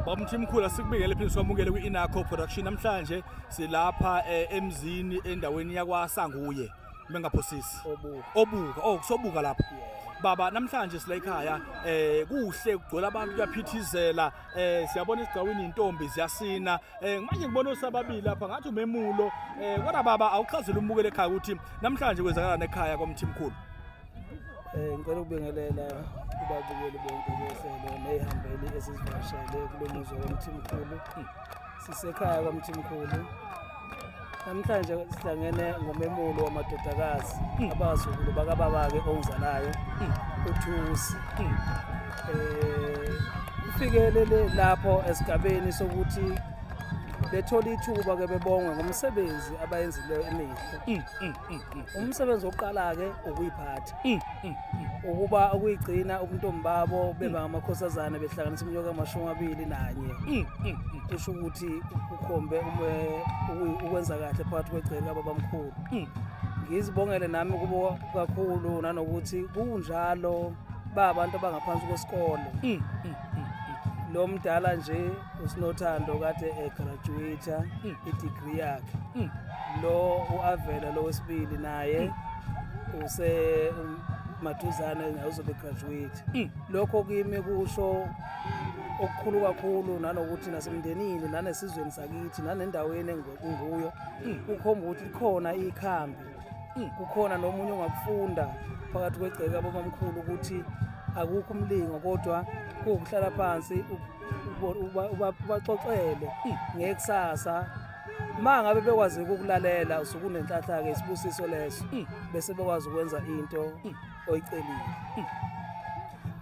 Bamthimkhulu asikubingele phinde sikwamukele kwi-Inaco Production namhlanje silapha eh, emzini endaweni yakwaSanguye bengaphosisi obuka obuka oh kusobuka lapha baba namhlanje sila ekhaya eh kuhle kugcwele abantu kuyaphithizela eh siyabona isigcawini intombi ziyasina eh manje ngibona osababili lapha ngathi umemulo eh kodwa baba awuchazela umukele ekhaya ukuthi namhlanje kwenzakalana ekhaya kwamthimkhulu Eh ngicela ukubingelela kubabukeli bonke behlelo neyihambeli esizivakashele kulo muzi womthimkhulu. Sisekhaya kwamthimkhulu. Namhlanje sihlangene ngomemulo wamadodakazi hmm. abazukulu bakababake ongizalayo hmm. uThusi. Hmm. Eh ufikelele lapho esigabeni sokuthi bethole ithuba ke bebongwe ngomsebenzi abayenzileyo emihle mm, mm, umsebenzi oqala-ke ukuyiphatha ukuba ukuyigcina ubuntombi babo beba ngamakhosazana behlanganisa umnyaka amashumi amabili nanye kusho ukuthi ukhombe ukwenza kahle phakathi kwegceke kababamkhulu ngizibongele nami kubo kakhulu nanokuthi kunjalo ba abantu abangaphansi kwesikole lo mdala nje usinothando kade egraduate mm. idegree yakhe mm. lo uavela lo wesibili naye mm. use um, maduzane naye uzobe graduate mm. lokho kimi kusho okukhulu kakhulu nanokuthi nasemndenini nanesizweni sakithi nanendaweni engikuyo mm. ukhomba ukuthi likhona ikhambi kukhona nomunye ongakufunda phakathi kwegceke ababamkhulu ukuthi akukho umlingo kodwa kuwukuhlala phansi ubaxoxele ngekusasa ma ngabe bekwazi ukukulalela usukunenhlahla-ke isibusiso leso bese bekwazi ukwenza into oyicelile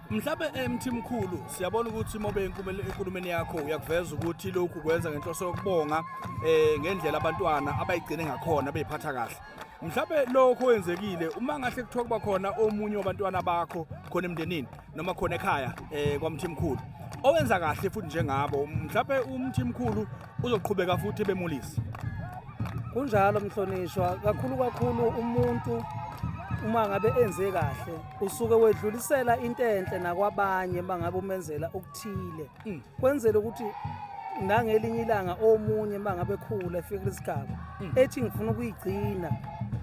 mhlawumbe emthi eh, mkhulu siyabona ukuthi mobe enkulumeni yakho uyakuveza ukuthi lokhu kwenza ngenhloso yokubonga um ngendlela abantwana abayigcine ngakhona beyiphatha kahle mhlawumbe lokho kwenzekile uma ngahle kuthiwa kuba khona omunye wabantwana bakho khona emndenini noma khona ekhaya um kwamthimkhulu owenza kahle futhi njengabo mhlawumbe umthimkhulu uzoqhubeka futhi ebemulisa kunjalo mhlonishwa kakhulu kakhulu umuntu uma ngabe enze kahle usuke wedlulisela into enhle nakwabanye bangabe umenzela okuthile mm. kwenzela ukuthi nangelinye ilanga omunye mangabe khula efika isigaba mm. ethi ngifuna ukuyigcina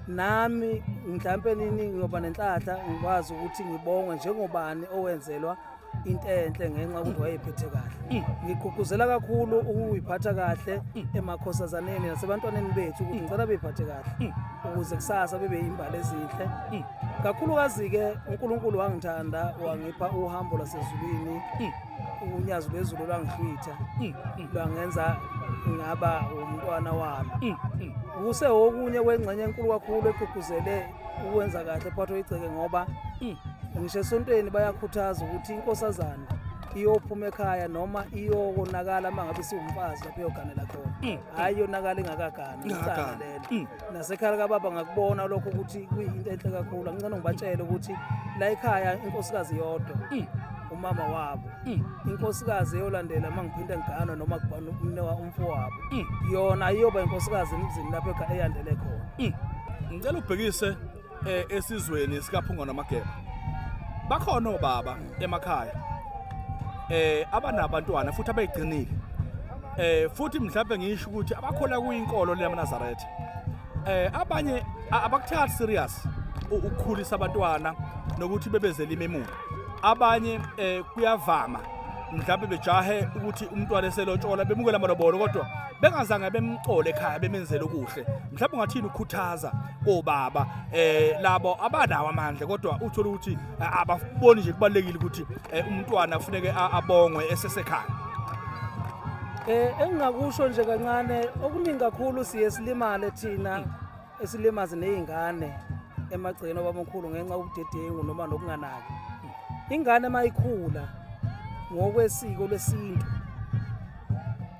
nami mhlawumpe nini ngiyoba nenhlahla ngikwazi ukuthi ngibongwe njengobani owenzelwa into enhle ngenxa yokuthi wayephethe kahle mm. ngigqugquzela kakhulu ukuyiphatha kahle mm. emakhosazaneni nasebantwaneni bethu ukuthi mm. ngicela beyiphathe kahle ukuze kusasa bebe yimbali ezinhle kakhulukazi-ke unkulunkulu wangithanda wangipha uhambo lwasezulwini unyazi lwezulu lwangihlwitha lwangenza ngaba umntwana wami kuse okunye kwengxenye enkulu kakhulu egqugquzele ukwenza kahle phathwa igceke ngoba mm, ngisho esontweni bayakhuthaza ukuthi inkosazana iyophuma ekhaya noma iyokonakala uma ngabe siwumfazi lapho iyoganela khona mm. hhayi yonakala ingakagani icala lelo mm. nasekhaya likababa ngakubona lokho ukuthi kuyinto enhle kakhulu angicane ngibatshele ukuthi la ekhaya inkosikazi yodwa umama wabo Mm. inkosikazi eyolandela uma ngiphinde ngiganwa noma kubhana umnewa umfowabo mm. yona iyoba inkosikazi emzini lapho eka eyandele khona mm. ngicela ubhekise eh, esizweni sikaphunga namageba bakhona obaba emakhaya eh abanabantwana futhi abegcinile eh futhi mhlawumbe ngisho ukuthi abakhola kuyinkolo leyamaNazaretha eh abanye abakuthathi serious ukukhulisa abantwana nokuthi bebezele imemulo abanye eh kuyavama mhlawumbe bejahe ukuthi umntwana eselotshola bemukela amalobolo kodwa bengazange bemcole ekhaya bemenzele okuhle mhlawumbe ungathini ukhuthaza kobaba eh labo abanawo amandla kodwa uthola ukuthi eh, ababoni nje kubalekile ukuthi eh, umntwana kufuneke abongwe esesekhaya eh engingakusho nje kancane okuningi kakhulu siye silimale thina esilimaze nezingane emagcekeni obabamkhulu ngenxa yobudedengu noma nokunganaki ingane mayikhula ngokwesiko lesintu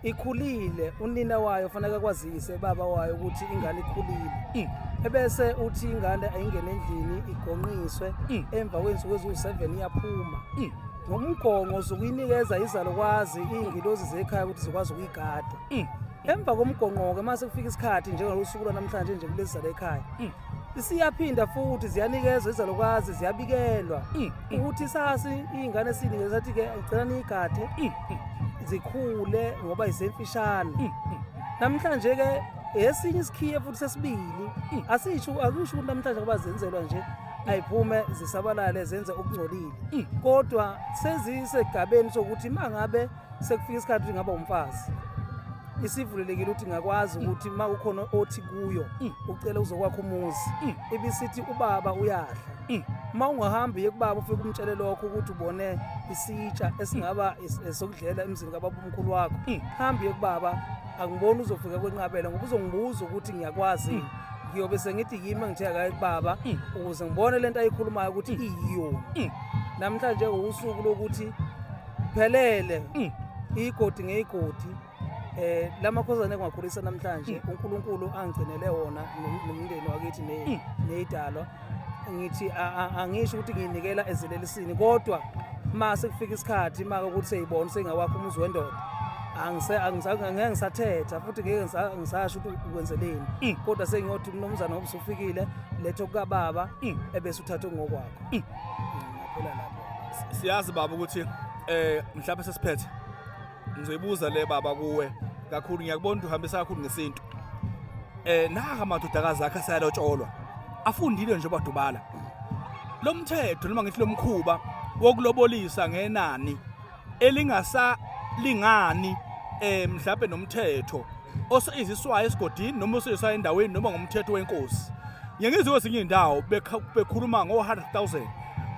ikhulile unina wayo fanele kwazise baba wayo ukuthi ingane ikhulile mm. ebese uthi ingane ayingene endlini igonqiswe mm. emva kwensuku eziwu-7 iyaphuma mm. ngomgongo zokuyinikeza izalukwazi iy'ngilozi zekhaya ukuthi zikwazi ukuyigada emva komgonqoke uma sekufika isikhathi njengalosuku lwanamhlanje nje kulezi zala ekhaya mm. siyaphinda futhi ziyanikezwa izalukwazi ziyabikelwa mm, mm. ukuthi sasi iy'ngane siyinikele sathi-ke ngicela niyigade zikhule ngoba izemfishane namhlanje-ke esinye isikhiye futhi sesibili asisho akusho ukuthi namhlanje ngoba zenzelwa nje ayiphume zisabalale zenze okungcolile kodwa sezisegabeni sokuthi mangabe sekufika isikhathi ukuthi ngaba umfazi isivulelekile ukuthi ngakwazi mm. ukuthi uma kukhona othi kuyo mm. ucele uzokwakha umuzi mm. ibisithi ubaba uyadla uma ungahambi ye kubaba ufike umtshele lokho ukuthi ubone isitsha esingaba esokudlela emzini kababa umkhulu wakho hambi ye kubaba angiboni uzofika kwenqabela ngoba uzongibuza ukuthi ngiyakwazi ngiyobe sengithi yimi engithe akaye kubaba ukuze ngibone lento ayikhulumayo ukuthi iyiyona namhlanje usuku lokuthi phelele mm. igodi ngeyigodi eh lamakhosana engiwakhulisa namhlanje mm. uNkulunkulu angigcinele wona nomndeni wakithi mm. nezidalwa ngithi angisho ukuthi ngiyinikela ezelelisini kodwa ma sekufika isikhathi maka ukuthi seyibona sengawakho umuzi wendoda angeke ngisathetha futhi ngeke ngisasho ukuthi ukwenzeleni mm. kodwa sengiyothi umnumzana ngoba usufikile letho kukababa mm. ebese uthathe ngokwakho mm. Phela lapho. Siyazi baba ukuthi eh mhlawumbe sesiphethe. Ngizoyibuza le baba kuwe kakhulu ngiyakubona ukuthi uhambisa kakhulu ngesintu. Eh naka amadodakazi akhe sayalotsholwa. Afundile nje badubala. Lomthetho noma ngithi lomkhuba wokulobolisa ngenani elingasalingani eh mhlawumbe nomthetho osiziswayo esigodini noma osiziswayo endaweni noma ngomthetho wenkosi ngiyengizwe kwezinye izindawo bekhuluma ngo-100000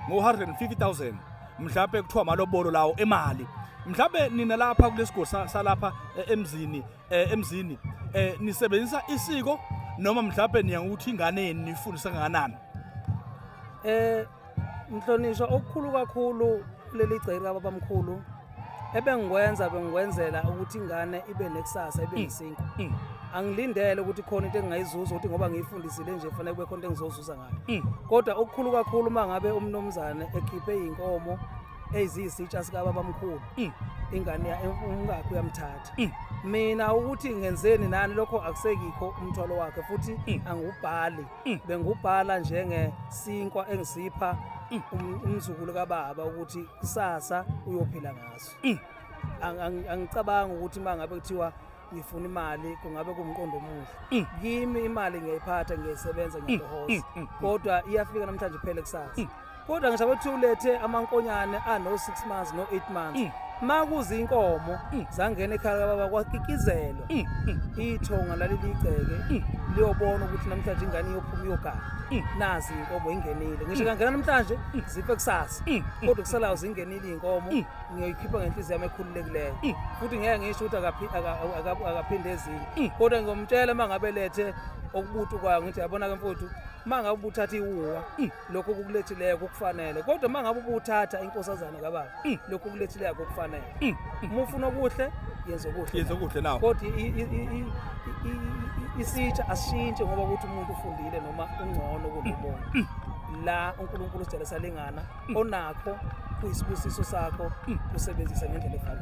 ngo-150000 mhlawumbe kuthiwa amalobolo lawo emali mhlawumbe nina lapha kulesigodzi salapha eh, emzini eh, emzini eh, nisebenzisa isiko noma mhlawumbe niya ukuthi ingane yenu nifundisa kanganani eh mhlonishwa okukhulu kakhulu kuleli gceke kababamkhulu ebengikwenza bengikwenzela ukuthi ingane ibe nekusasa ibe mm. nesinko mm. angilindele ukuthi khona into engingayizuza ukuthi ngoba ngiyifundisile nje fanele kube khona into engizozuza ngayo mm. kodwa okukhulu kakhulu uma ngabe umnumzane ekhiphe iy'nkomo eziyisitsha sikababamkhulu mm. ingane ya- umkakhe uyamthatha Mm. mina ukuthi ngenzeni nani lokho akusekikho umthwalo wakhe futhi Mm. angubhali Mm. bengubhala njengesinkwa engisipha Mm. um- umzukulu kababa ukuthi kusasa uyophila ngaso Mm. Ang- ang- angicabangi ukuthi uma ngabe kuthiwa ngifuna imali kungabe kumqondo omuhle mm. kimi imali ngiyayiphatha ngiyayisebenza mm, ngiyahoza mm, kodwa iyafika namhlanje phele kusasa kodwa ngisho abethi ulethe amankonyane ano 6 months no 8 months makuze inkomo zangena ekhaya kababa kwakikizelwa ithonga laliligceke liyobona ukuthi namhlanje ingane iyophuma iyogana nazi inkomo ingenile ngisho kangena namhlanje zife kusasa kodwa kusalayo zingenile inkomo ngiyoyikhipha ngenhliziyo yami ekhululekileyo mm. futhi ngeke ngisho ukuthi akaphinde ezinye mm. kodwa ngiyomtshela uma ngabe lethe okubutu kwayo ngithi yabona ke mfowethu uma ngabe ubuthatha iwuwa mm. lokho kukulethileyo kukufanele kodwa uma ngabe ubuthatha inkosazana kababa lokho kulethileyo kukufanele uma ufuna okuhle yenza okuhle yenza okuhle nawo kodwa isitsha asishintshe ngoba ukuthi umuntu ufundile noma ungcono kunomuntu la uNkulunkulu usijalisa lingana onakho kuyisibusiso sakho usebenzise ngendlela efanele